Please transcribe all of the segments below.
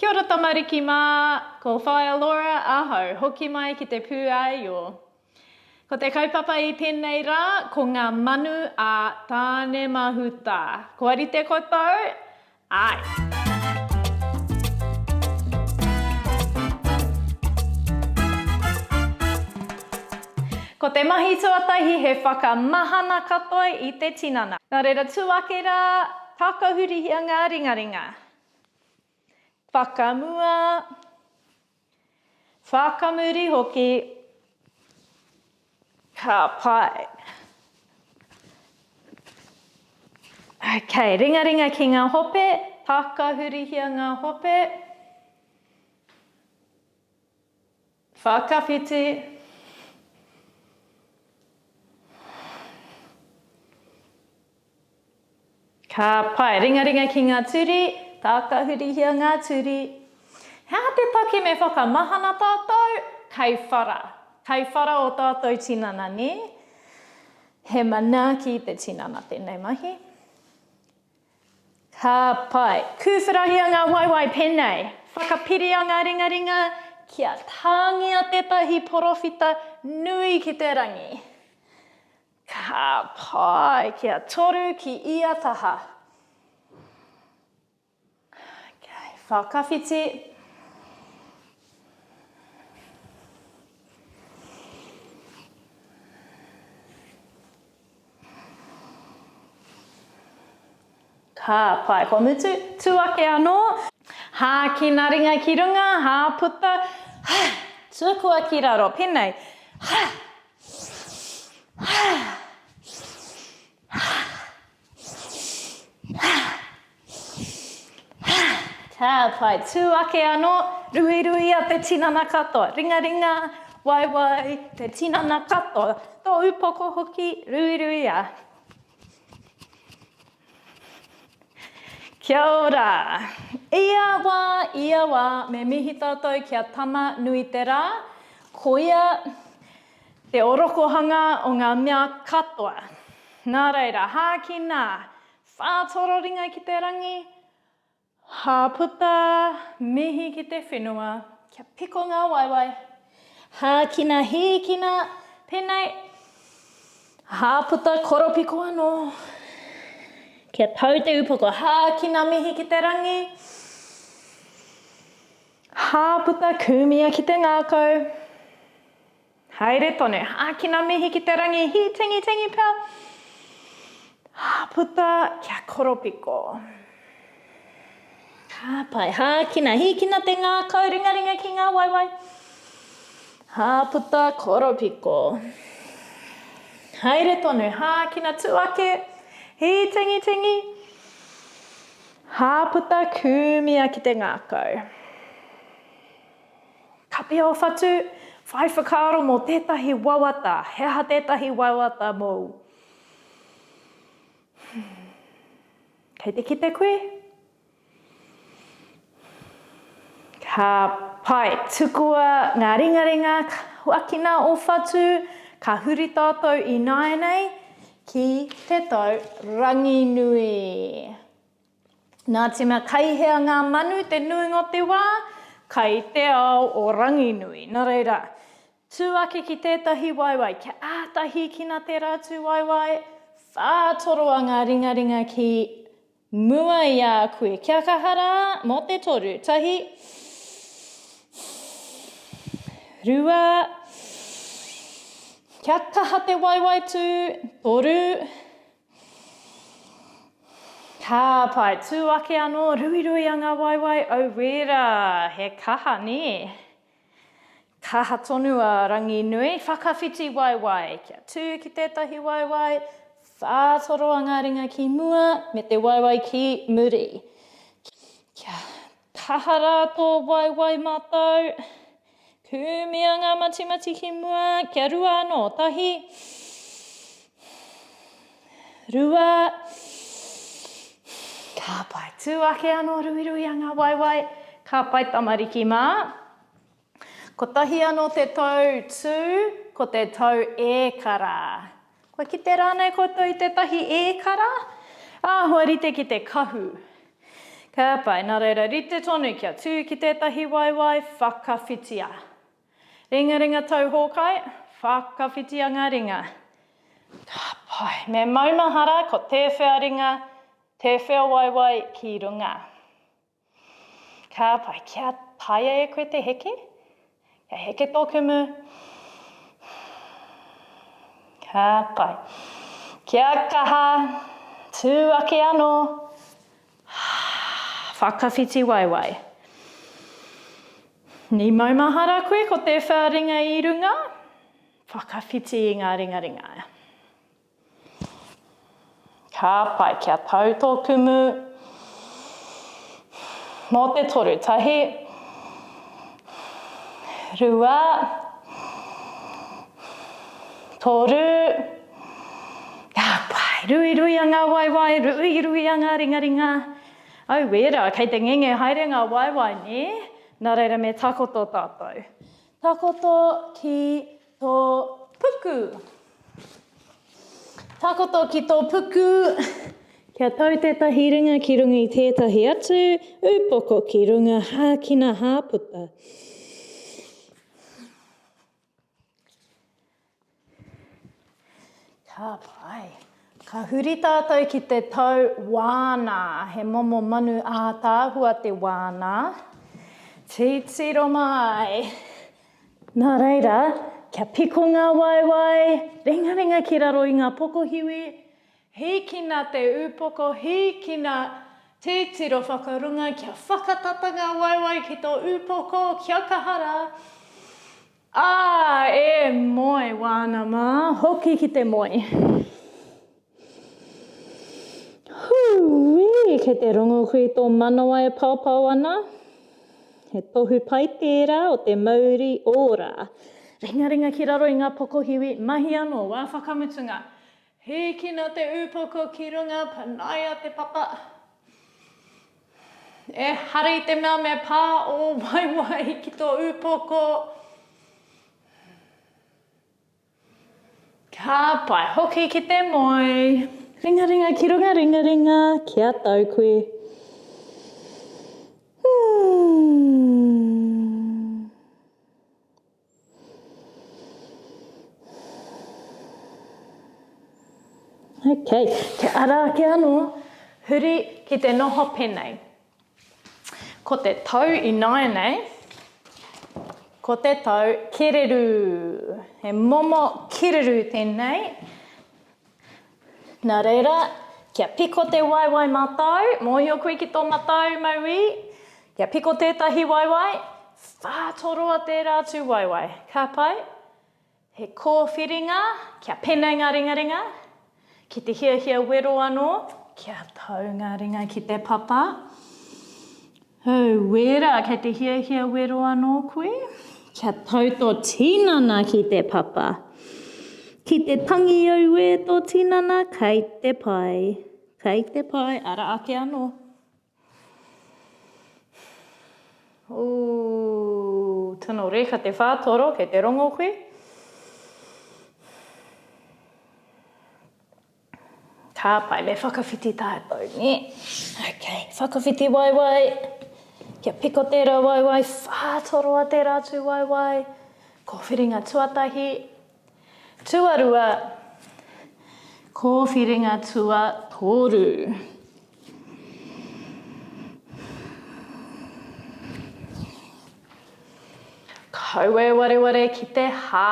Kia ora tamariki mā! Ko Whaea Laura ahau, hoki mai ki te pū āio. Ko te kaupapa i tēnei rā, ko ngā manu a Tānemahuta. Kua rite koutou? Āe! Ko te mahi tuatahi he whakamahana katoa i te tinana. Nā reira, tū ake rā, tākau hurihia ngā ringaringa. Whakamua, whakamuri hoki, ka pai. Ok, ringaringa ki ngā hope, takahurihia ngā hope. Whakawhiti. Ka pai. Ringaringa ki ngā turi. Tākahurihia ngā turi. He aha te take me whakamahana tātou? Kei whara. Kei whara o tātou tinana, nē? He manaaki te tinana tēnei mahi. Ka pai. Kūwhirahia ngā waewae pēnei, Whakapiria ngā ringaringa kia tāngia tētahi porowhita nui ki te rangi. Ka pai. Kia toru ki ia taha. Okay. Whakawhiti. Ka pae kua mutu, tu ake anō. Hākina ringa ki runga, hāputa, tukua ki raro, penei. Ka pai, tū ake anō, ruiruia te tinana katoa, ringaringa, waiwai, te tinana katoa, tō upoko hoki, ruiruia. Kia ora! Ia wā, ia wā, me mihi tātou ki a Tama nui te rā, ko ia te orokohanga o ngā mea katoa. Nā reira, hākina, Whā toro ringa ki te rangi, Hā puta mihi ki te whenua, Kia piko ngā waewae, Hā kina hīkina Pēnei, Hā puta koropiko anō, Kia tau te upoko, Hā kina mihi ki te rangi, Hā puta kūmia ki te ngākau. Haere tonu, ākina mihi ki te rangi, hī tingitingi pea, puta kia koropiko. Ka pai, hākina, hīkina te ngākau, ringaringa ki ngā waewae. Hā puta, koropiko. Haere tonu, hākina, tū ake, hī tingitingi. Hā puta, kūmia ki te ngākau. Kapia o Whatu, whai whakaaro mō tētahi wawata, he aha tētahi wawata mōu? Kei te kite koe? Ka pai, tukua ngā ringaringa huakina o Whatu, ka huri tātou ināianei ki te tau Ranginui. Nā tima kai hea ngā manu te nuinga o te wā, kai te ao o Ranginui. Nā reira, tū ake ki tētahi waewae, kia āta hīkina tērā tū waewae, whātoroa ngā ringaringa ki mua i a koe. Kia kaha rā, mō te toru, tahi, rua, kia kaha te waewae tū, toru, Ka pae tū ake anō, ruirui a ngā waewae, au wērā, he kaha nē. Kaha tonu a Ranginui, whakawhiti waewae, kia tū ki tētahi waewae, whātoro a ngā ringa ki mua, me te waewae ki muri. Kia. Kaha rā tō waewae mātou. Kūmia ngā matimati ki mua, kia rua anō, tahi, rua, ka pai, tū ake anō ruiruia ngā waewae, ka pai tamariki mā, Kotahi anō te tau tū, ko te tau ēkara. Kua kite rānei koutou i tētahi ēkara? Āhua rite ki te kahu. Ka pai, nā reira, rite tonu kia tū ki tētahi waewae whakawhitia. Ringaringa tau hōkai, whakawhitia ngā ringa. Ka pai, me maumahara ko tēwhea ringa, tēwhea waewae ki runga. Ka pai, kia taea e koe te heke, kia heke tō kumu. Ka pai. Kia kaha, tū ake anō. Whakawhiti waewae. Ni maumahara koe ko te whea ringa i runga, whakawhiti i ngā ringaringa. Ka pai kia tau tō kumu. Mō te toru tahi. Rua. Toru. Ka pai. Ruiruia ngā waewae, ruiruia ngā ringaringa. Au wērā, kei te ngenge haere ngā waewae, nē? Nā reira me takoto tātou. Takoto ki. Tō puku. Takoto ki tō puku. Kia tau tētahi ringa ki runga i tētahi atu, upoko ki runga, hākina, hāputa. Ka pai. Ka huri tātou ki te tau wānā. He momo manu ātaahua te wānā. Titiro mai. Nā reira, kia piko ngā waewae, ringaringa ki raro i ngā pokohiwi. Hīkina te upoko, hīkina titiro whakarunga, kia whakatata ngā waewae ki tō upoko, kia kaha rā. Ā, e moe wāna mā, hoki ki te moe. Hūī! Kei te rongo koe i tō manawa e paopao ana? He tohu pai tērā o te mauri ora. Ringaringa ki raro i ngā pokohiwi, mahi anō, wā whakamutunga. Hīkina te ūpoko ki runga, panaia te papa. Ehara i te mea me pā ō waewae ki tō ūpoko. Ka pai hoki ki te moe. Ringaringa ki runga ringaringa ki a tau koe. Okay, kia ara ake ano. Huri ki te noho penei. Ko te tau ināianei, ko te tau kererū. He momo kererū tēnei. Nā reira, kia piko te waewae matau, mōhio koe ki tō matau mauī, kia piko tētahi waewae, whā toroa tērā atu waewae. Ka pai? He kōwhiringa kia penei ngā ringaringa, ki te hiahia wero anō, kia tau ngā ringa ki te papa. Hei wera, kei te hiahia wero anō koe, kia tau tō tinana ki te papa. Ki te tangi auē tō tinana, kei te pai, kei te pai, ara ake anō. Ooh, tino reka te whātoro, kei te rongo koe. Ka pai, me whakawhiti tātou, nē. Ok, whakawhiti waiwai. Kia piko tērā waiwai, whātoroa tērā tū waiwai. Kōwhiringa tuatahi. Tuarua, kōwhiringa tuatoru. Kaue wareware ki te hā.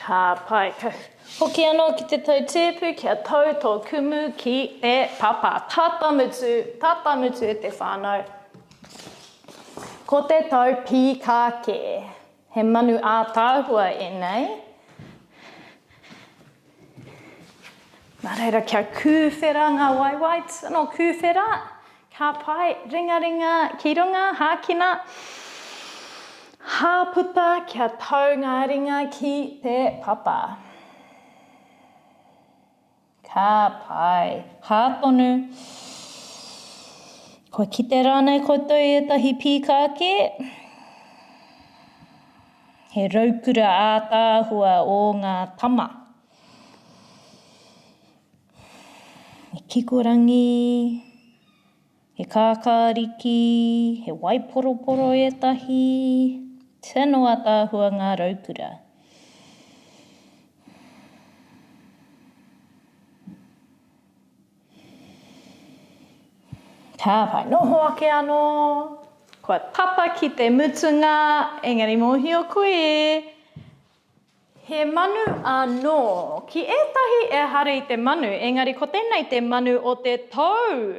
Ka pai ka hoki anō ki te tau tēpu kia tau tō kumu ki te papa. Tata mutu, tata mutu e te whānau. Ko te tau pīkā kē. He manu ātaahua ēnei. Nā reira kia kūwhera ngā waewae, tino kūwhera, ka pae, ringaringa ki runga, hākina, hāputa kia tau ngā ringa ki te papa. Ka pai. Hā tonu. Kua kite rānei koutou i ētahi pīkā kē? He raukura ātaahua ō ngā tama. Me kikorangi. He kākāriki, he waiporoporo ētahi, tino ataahua ngā raukura. Ka whai noho ake anō, kua tapa ki te mutunga, engari mōhio koe, He manu anō. Ki ētahi ehara i te manu, engari ko tēnei te manu o te tou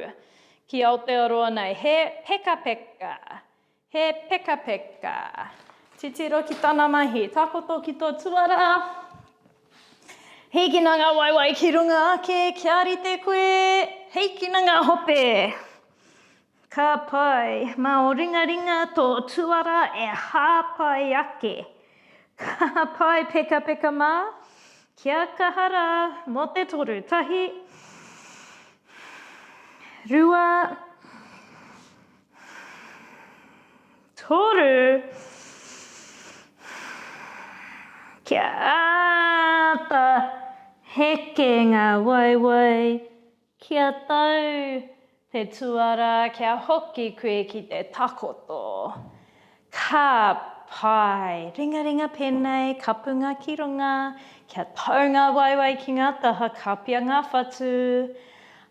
ki Aotearoa nei. He pekapeka. He pekapeka. Titiro ki tana mahi. Takoto ki tō tuarā. Hīkina ngā waewae ki runga ake kia rite koe. Hīkina ngā hope. Ka pai, mā ō ringaringa tō tuara e hāpai ake. Ka pai pekapeka mā, kia kaha rā mō te toru, tahi, rua, toru, kia āta heke ngā waewae. Kia tau te tuara kia hoki koe ki te takoto. Ka pai! Ringaringa penei, kapunga ki runga, kia tau nga waewae ki nga taha, kapia nga whatu,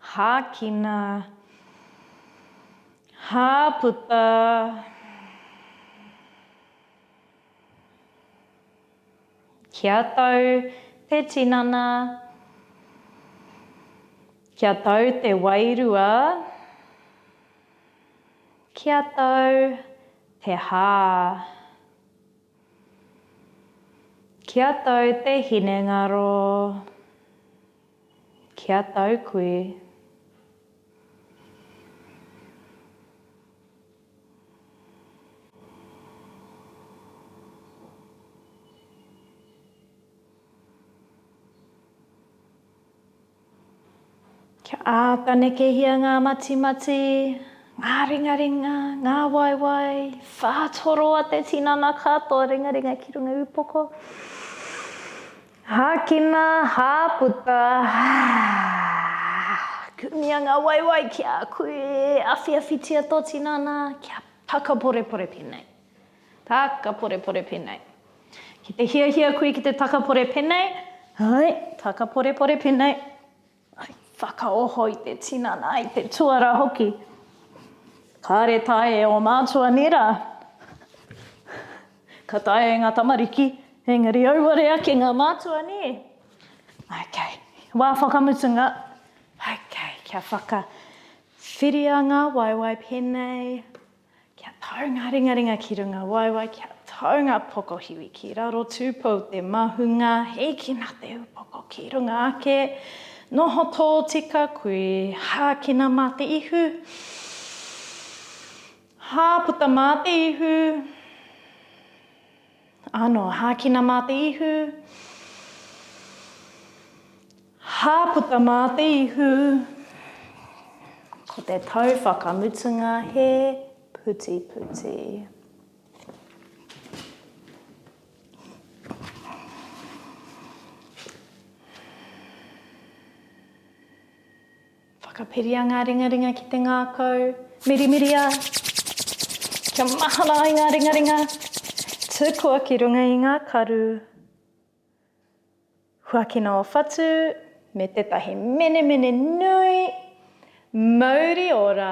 hakina, haputa. Kia tau te tinana. Kia tau te wairua. Kia tau te hā. Kia tau te hinengaro. Kia tau koe. Kia āta nekehia ngā matimati, ngā ringaringa, ngā waewae, whātoroa te tinana katoa ringaringa ki runga upoko. Hākina, hāputa, kumia ngā waewae ki a koe e awhiawhitia tō tinana kia takaporepore pēnei, takaporepore pēnei. Ki te hiahia koe ki te takapore pēnei, hai, takaporepore pēnei. I whakaoho i te tinana, i te tuara hoki. Kāre tae e ō mātua nei rā. Ka taea e ngā tamariki, engari auare ake ngā mātua nē. Ok, wā whakamutunga. Ok, kia whakawhiria ngā waewae pēnei. Kia tau ngā ringaringa ki runga waewae, kia tau ngā pokohiwi ki raro tūpou te mahunga, hīkina te upoko ki runga ake, noho tōtika kui, hākina mā te ihu, hāputa mā te ihu. Ano, hākina mā te ihu. Hāputa mā te ihu. Ko te tau whakamutunga he putiputi. Whakapiria ngā ringaringa ki te ngākau. Mirimiria kia mahara ai ngā ringaringa. Tukua ki runga i ngā karu. Huakina ō whatu me tētahi menemene nui. Mauri ora!